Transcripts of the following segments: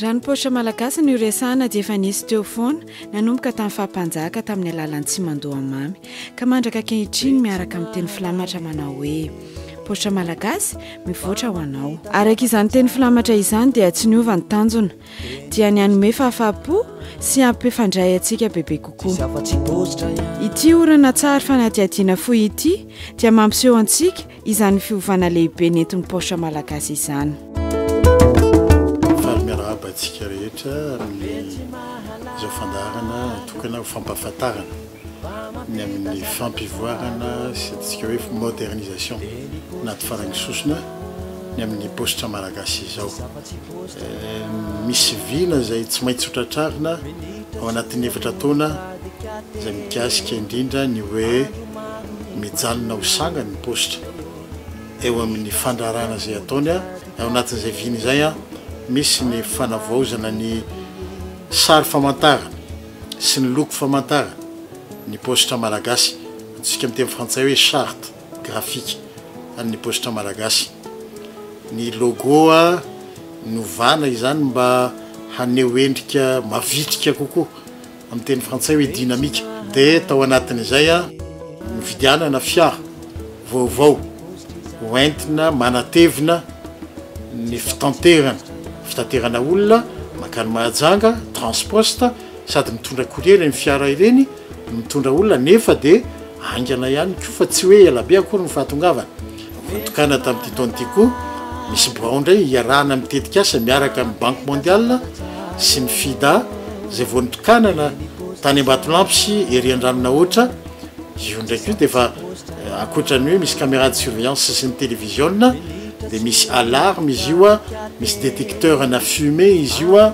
Raha ny paositra malagasy no resahana dia efa nisy teo foana nanomboka tamin'ny fahampanjaka tamin'ny alalan'ny tsimandoha mamy ka mandraka ankehitriny miaraka amin'ny teny filamatra manao hoe paositra malagasy mivoatra ho anao. Araka izany teny filamatra izany dia tsy niova ny tanjona dia ny hanome fahafahampo sy hampifandray antsika bebe kokoa ity orana tsary fanadihadiana fohy ity dia mampiseho antsika izany fiovana lehibe nentin'ny paositra malagasy izany faly miarahaba antsika rehetra amin'ny izao fandaharana tokana ho fampahafantarana ny amin'ny fampivoarana sy antsika hoe modernisation na tsy farain'ny sosona ny amin'ny paositra malagasy izao. Misy vina izay tsy maintsy hotratrarina ao anatin'ny efatra taona izay mikasika indrindra ny hoe mijanona ho sangany ny paositra eo amin'ny fandrarana izay ataony a. Ao anatin'izay vina izay a, misy ny fanavaozana ny sary famantarana. sy ny loko famantarana ny paositra malagasy, antsointsika amin'ny teny frantsay hoe charte graphique an'ny paositra malagasy. Ny logo novana izany mba haneho endrika mavitrika kokoa, amin'ny teny frantsay hoe dynamique. Dia tao anatin'izay, nividianana fiara. vaovao ho entina manatevina ny fitanterana fitaterana olona mankany Mahajanga, Transposte, sady mitondra courrier ireny fiara ireny no mitondra olona nefa dia haingana ihany koa fa tsy hoe ela be akory ny fahatongavany. Voatokana tamin'ity taona ity koa misy birao indray hiarahana amin'ny tetikasa miaraka amin'ny Banque Mondiale sy ny FIDA izay vao notokanana tany Ambatolampy sy ery Andranonahoatra, Io ndraiky io dia efa ankoatra ny hoe misy caméra de surveillance sy ny télévisiona dia misy alarme izy io a, misy détecteur ana fumée izy io a,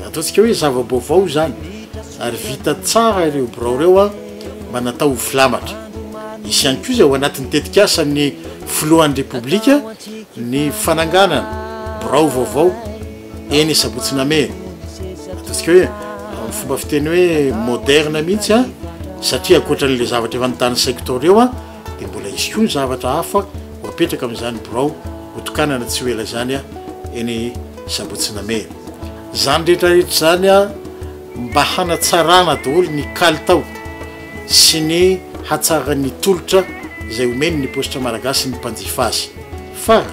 ataontsika hoe zava-baovao izany ary vita tsara ireo birao ireo a mba natao ho filamatra. Hisy ihany koa izay ao anatin'ny tetikasan'ny filohan'ny Repoblika ny fananganana birao vaovao. Eny sabotsy name ataontsika hoe amin'ny fomba fiteny hoe moderne mihitsy a satria ankoatra an'ilay zavatra efa nitany saiko tao reo a dia mbola hisy koa ny zavatra hafa ho apetraka amin'izany birao hotokanana tsy ho ela izany a eny sabotsy name izany rehetra rehetra izany a mba hanatsarana daholo ny kalitao sy ny hatsaran'ny tolotra izay omeny ny paositra malagasy ny mpanjifa azy fa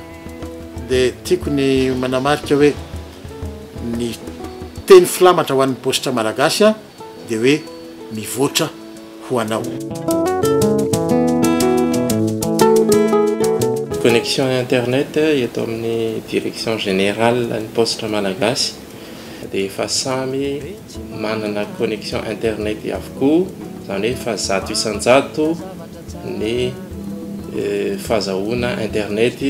dia tiako ny manamarika hoe ny teny filamatra ho an'ny paositra malagasy dia hoe mivoatra ho anao. Connexion internet eto amin'ny direction générale ny paositra malagasy dia efa samy manana connexion internet avokoa izany hoe efa zato isan-jato ny fahazahoana internet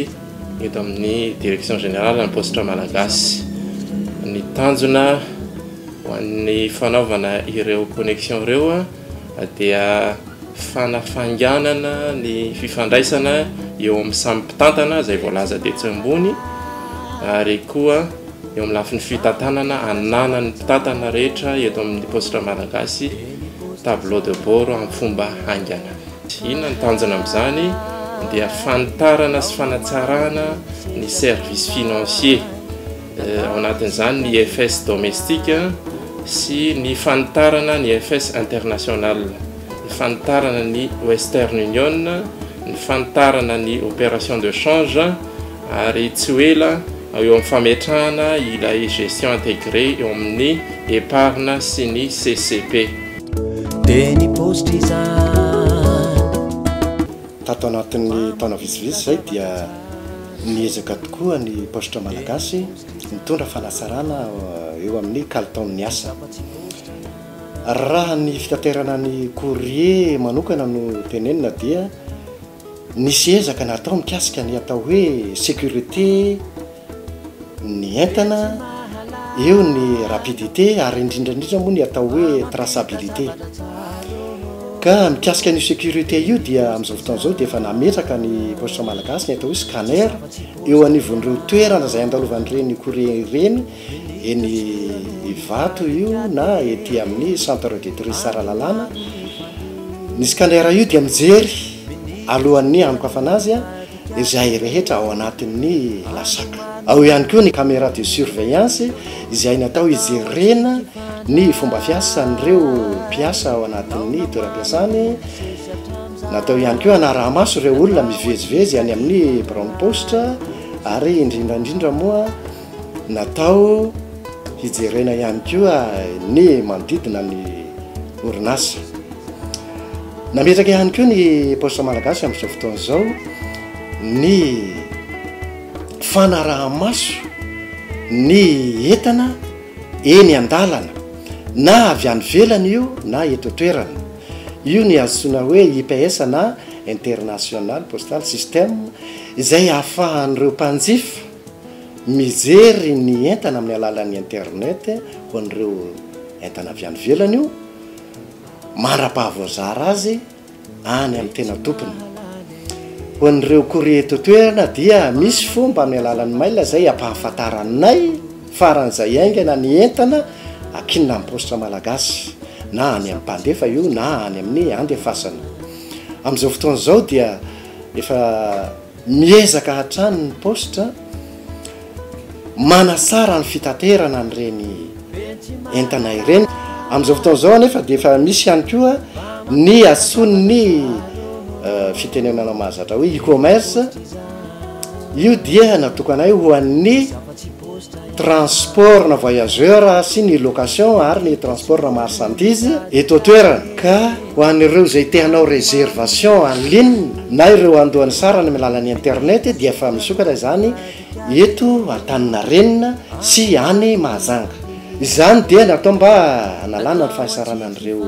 eto amin'ny direction générale ny paositra malagasy ny tanjona ho an'ny fanaovana ireo connexion ireo dia fanafainganana ny fifandraisana eo amin'ny samy mpitantana izay voalaza tetsy ambony ary koa Eo amin'ny lafiny fitantanana, ananan'ny mpitantana rehetra eto amin'ny Paositra Malagasy tableau de bord amin'ny fomba haingana. Inona ny tanjona amin'izany? Dia fanitarana sy fanatsarana ny service financier, eh, ao anatin'izany ny IFS domestique sy ny fanitarana ny IFS international, ny fanitarana ny Western Union, ny fanitarana ny opération de change, ary tsy ho ela eo amin'ny fametrahana ilay gestion intégrée eo amin'ny Epargne sy ny CCP. Tato anatin'ny taona vitsivitsy izay dia niezaka tokoa ny Paositra Malagasy nitondra fanatsarana eo amin'ny kalitaon'ny asa. Raha ny fitaterana ny courrier manokana no tenenina dia. Nisy ezaka natao mikasika ny atao hoe sécurité ny entana, eo ny rapidité ary indrindra indrindra moa ny atao hoe traçabilité. Ka mikasika ny sécurité io dia amin'izao fotoana izao dia efa nametraka ny Poste Malagasy ny atao hoe scanner eo anivon'ireo toerana izay andalovan'ireny courrier ireny eny Ivato io na ety amin'ny centre de tourisme Tsaralalana. Ny scanner io dia mijery alohan'ny hanokafana azy izay rehetra ao anatin'ny lasak. Ao ihany koa ny camera de surveillance izay natao hijerena ny fomba fiasan'ireo mpiasa ao anatin'ny toeram-piasany. Natao ihany koa hanaraha-maso ireo olona mivezivezy any amin'ny biraon'ny paositra ary indrindra indrindra moa Natao hijerena ihany koa ny manodidina ny orinasa. Nametraka ihany koa ny Poste Malagasy amin'izao fotoana izao ny fanaraha-maso ny entana eny an-dalana na avy any ivelany io na eto an-toerana. Io ny antsoina hoe IPS na International Postal System izay ahafahan'ireo mpanjifa Mijery ny entana amin'ny alalan'ny internet ho an'ireo entana avy any ivelany io, mandrapaha voazara azy any amin'ny tena tompony. Ho an'ireo courrier eto an-toerana dia misy fomba amin'ny alalan'ny mail izay hampahafantaranay faran'izay haingana ny entana akinina amin'ny paositra malagasy, na any amin'ny mpandefa io na any amin'ny andefasana. Amin'izao fotoana izao dia efa. Miezaka hatrany ny Post manatsara ny fitaterana an'ireny entana ireny. Amin'izao fotoana izao anefa dia efa misy ihany koa ny antsoin'ny fitenenana mahazatra hoe e-commerce. Io dia natokanay ho an'ny. transport na voyageur sy ny location ary ny transport na marchandise eto an-toerana ka ho an'ireo izay te hanao réservation en ligne na ireo handoa ny sarany amin'ny alalan'ny internet dia efa misokatra izany eto Antaninarenina sy any Mahajanga. Izany dia natao mba hanalana ny fahasarana an'ireo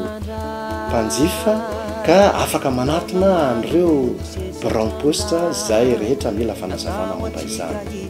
mpanjifa ka afaka manatona an'ireo biraom-posta izay rehetra mila fanazavana momba izany.